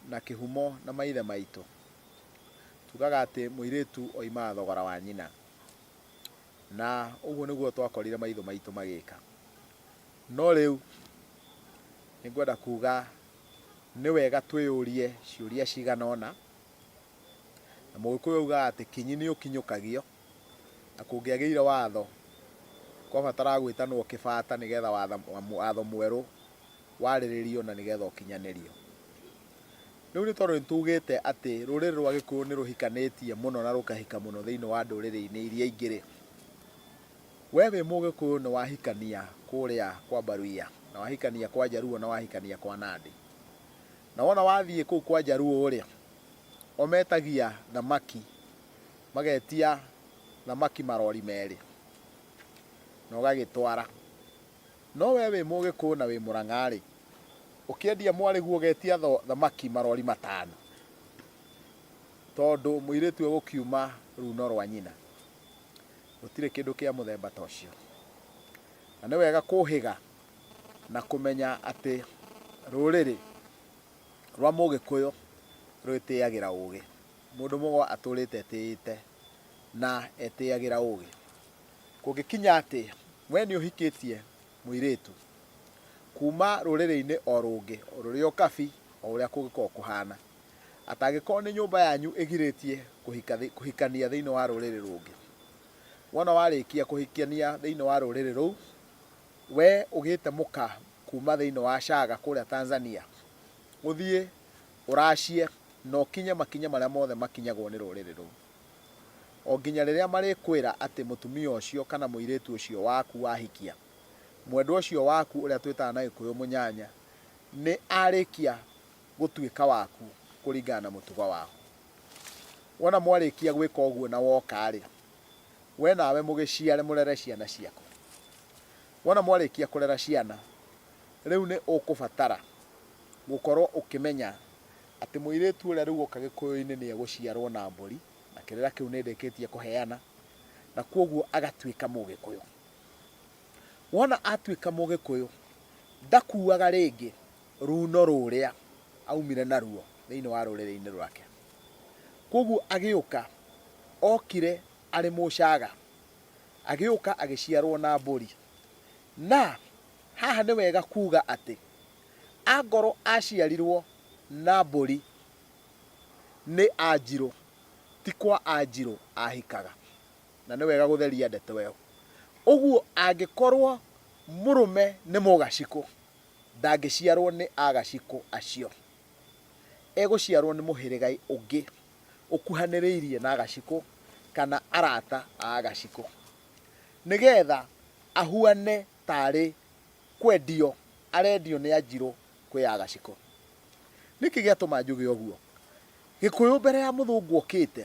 na kĩhumo na maithe maitũ. Tugaga atĩ mũirĩtu oimaga thogora wa nyina. Na ũguo nĩguo twakorire maitho maitũ magĩka. No rĩu nĩ ngwenda kuga nĩ wega twĩyũrie ciũria cigana ũna. Na mũgĩkũyũ augaga atĩ kinyi nĩ ũkinyũkagio. Na kũngĩagĩire watho, kwabataraga gwĩtanwo kĩbata nĩgetha watho mwerũ warĩrĩrio na nĩgetha ũkinyanĩrio. Rĩu nĩ tondũ nĩtugĩte atĩ rũrĩrĩ rwa Gĩkũyũ nĩrũhikanĩtie mũno na rũkahika mũno thĩinĩ wa ndũrĩrĩ-inĩ iria ingĩ-rĩ, we wĩ Mũgĩkũyũ nĩwahikania kũrĩa kwa Mbaruiya, na wahikania kwa Njaruo, na wahikania kwa Nandĩ, na wona wathiĩ kũu kwa Njaruo-rĩ, o metagia thamaki magetia thamaki marori merĩ na ũgagĩtwara. No we wĩ Mũgĩkũyũ na wĩ Mũrang'a-rĩ, ũkĩendia mwarĩguo ũgetia thamaki marori matano tondũ mũirĩtu egũkiuma runo rwa nyina. Gũtirĩ kĩndũ kĩa mũthemba ta ũcio. Na nĩ wega kũhĩga na kũmenya atĩ rũrĩrĩ rwa Mũgĩkũyũ rwĩtĩyagĩra ũgĩ. Mũndũ mũgo atũũrĩte etĩĩte na etĩĩagĩra ũũgĩ. Kũngĩkinya atĩ wee nĩ ũhikĩtie mũirĩĩtu kuuma rũrĩrĩ-inĩ o rũngĩ, rũrĩ o kabi o ũrĩa kũngĩkorwo kũhaana, atĩ angĩkorwo nĩ nyũmba yanyu ĩgirĩĩtie kũhikania thĩinĩ wa rũrĩrĩ rũngĩ, wona warĩĩkia kũhikania thĩinĩ wa rũrĩrĩ rũu, wee ũgĩĩte mũka kuuma thĩinĩ wa Shaaga kũũrĩa Tanzania, ũthiĩ Ũracie, na ũkinye makinya marĩa mothe makinyagwo nĩ rũrĩrĩ rũu, o nginya rĩrĩa marĩkwĩra atĩ mũtumia ũcio kana mũirĩtu ũcio waku wahikia, mwendwa ũcio waku ũrĩa twĩtaga na Gĩkũyũ mũnyanya, nĩ arĩkia gũtuĩka waku kũringana na mũtugo wao. Wona mwarĩkia gwĩka ũguo na woka-rĩ, we nawe mũgĩciare mũrere ciana ciaku. Wona mwarĩkia kũrera ciana, rĩu nĩ ũkũbatara gũkorwo ũkĩmenya atĩ mũirĩtu ũrĩa rĩu oka gĩkũyũ-inĩ nĩ egũciarwo na mbũri, na kĩrĩra kĩu nĩ ndĩkĩtie kũheana, na kwoguo agatuĩka mũgĩkũyũ. Wona atuĩka mũgĩkũyũ, ndakuaga rĩngĩ ruuno rũrĩa aumire naruo thĩinĩ wa rũrĩrĩ-inĩ rwake. Kwoguo agĩũka okire arĩ mũcaga, agĩũka agĩciarwo na mbũri, Na haha nĩ wega kuuga atĩ angorwo aaciarirwo na mbũri nĩ Anjirũ, ti kwa Anjirũ aahikaga. Na nĩ wega gũtheria ndeto ĩyo. Ũguo angĩkorwo mũrũme nĩ Mũgacikũ, ndangĩciarwo nĩ Agacikũ acio. Egũciarwo nĩ mũhĩrĩga ũngĩ ũkuhanĩrĩirie na Agacikũ kana arata a Agacikũ. Nĩ geetha ahuane taarĩ kwendio arendio nĩ Anjirũ kwĩ ya Gacikũ. Nĩkĩ gĩatũma njuge ũguo? Gĩkũyũ mbere ya Mũthũngũ okĩte,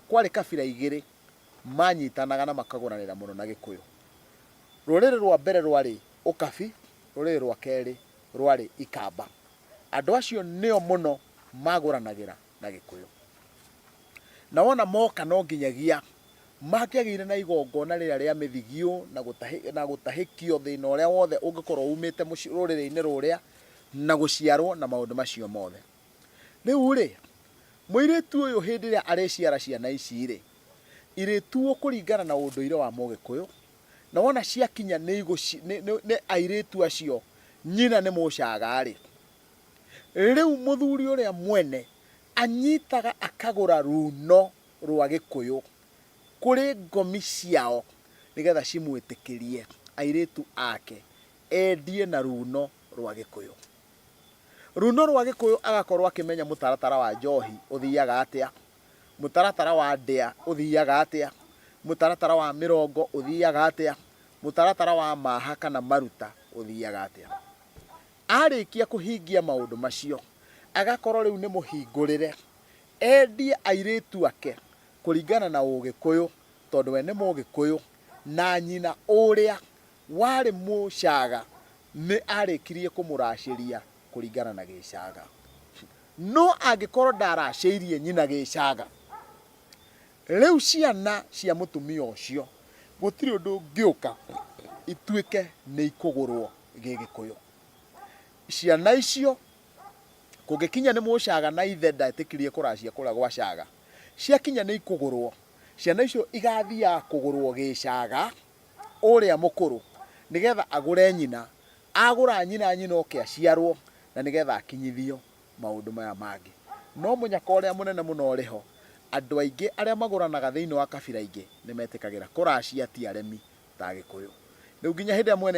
kwarĩ kabira igĩrĩ manyitanaga na makagũranĩra mũno na Gĩkũyũ. Rũrĩrĩ rwa mbere rwarĩ Ũkabi, rũrĩrĩ rwa kerĩ rwarĩ Ikamba. Andũ acio nĩo mũno magũranagĩra. na Gĩkũyũ. Na wona moka no nginyagia mangĩagĩire na igongona rĩrĩa rĩa mĩthigio na gũtahĩ- na gũtahĩkio thĩna ũrĩa wothe ũngĩkorwo umĩte mũci- rũrĩrĩ-inĩ rũrĩa na gũciarwo na maũndũ macio mothe. Rĩu-rĩ, mũirĩtu ũyũ hĩndĩ ĩrĩa arĩciara ciana ici-rĩ, irĩtuo kũringana na ũndũire wa Mũgĩkũyũ, na wona ciakinya nĩ igũci- nĩ- nĩ- nĩ airĩtu acio nyina nĩ mũcaga-rĩ, Rĩu mũthuri ũrĩa mwene anyitaga akagũra ruuno rwa Gĩkũyũ kũrĩ ngomi ciao nĩgetha cimwĩtĩkĩrie airĩtu ake endie na ruuno rwa Gĩkũyũ. Ruuno rwa Gĩkũyũ agakorwo akĩmenya mũtaratara wa njohi ũthiaga atĩa, mũtaratara wa ndĩa ũthiaga atĩa, mũtaratara wa mĩrongo ũthiaga atĩa, mũtaratara wa maaha kana maruta ũthiaga atĩa. Arĩkia kũhingia maũndũ macio, agakorwo rĩu nĩ mũhingũrĩre, endie airĩtu ake kũringana na Ũgĩkũyũ, tondũ we nĩ Mũgĩkũyũ, na nyina ũrĩa warĩ Mũcaga nĩ arĩkirie kũmũracĩria kũringana na Gĩcaga. No angĩkorwo ndaracĩirie nyina Gĩcaga, rĩu ciana cia mũtumia ũcio gũtirĩ ũndũ ũngĩũka ituĩke nĩ ikũgũrwo. gĩgĩkũyũ ciana icio kũngĩkinya nĩ mũcaga na ithe ndetĩkirie kũracia kũrĩa gwa caga ciakinya nĩ ikũgũrwo ciana icio igathiaga kũgũrwo gĩcaga ũrĩa mũkũrũ nĩgetha agũre nyina agũra nyina nyina oke aciarwo na nĩgetha akinyithio maũndũ maya mangĩ no mũnyaka ũrĩa mũnene mũno ũrĩ ho andũ aingĩ arĩa magũranaga thĩinĩ wa kabira ingĩ nĩ metĩkagĩra kũracia ti aremi ta agĩkũyũ rĩu nginya hĩndĩ ĩrĩa mwene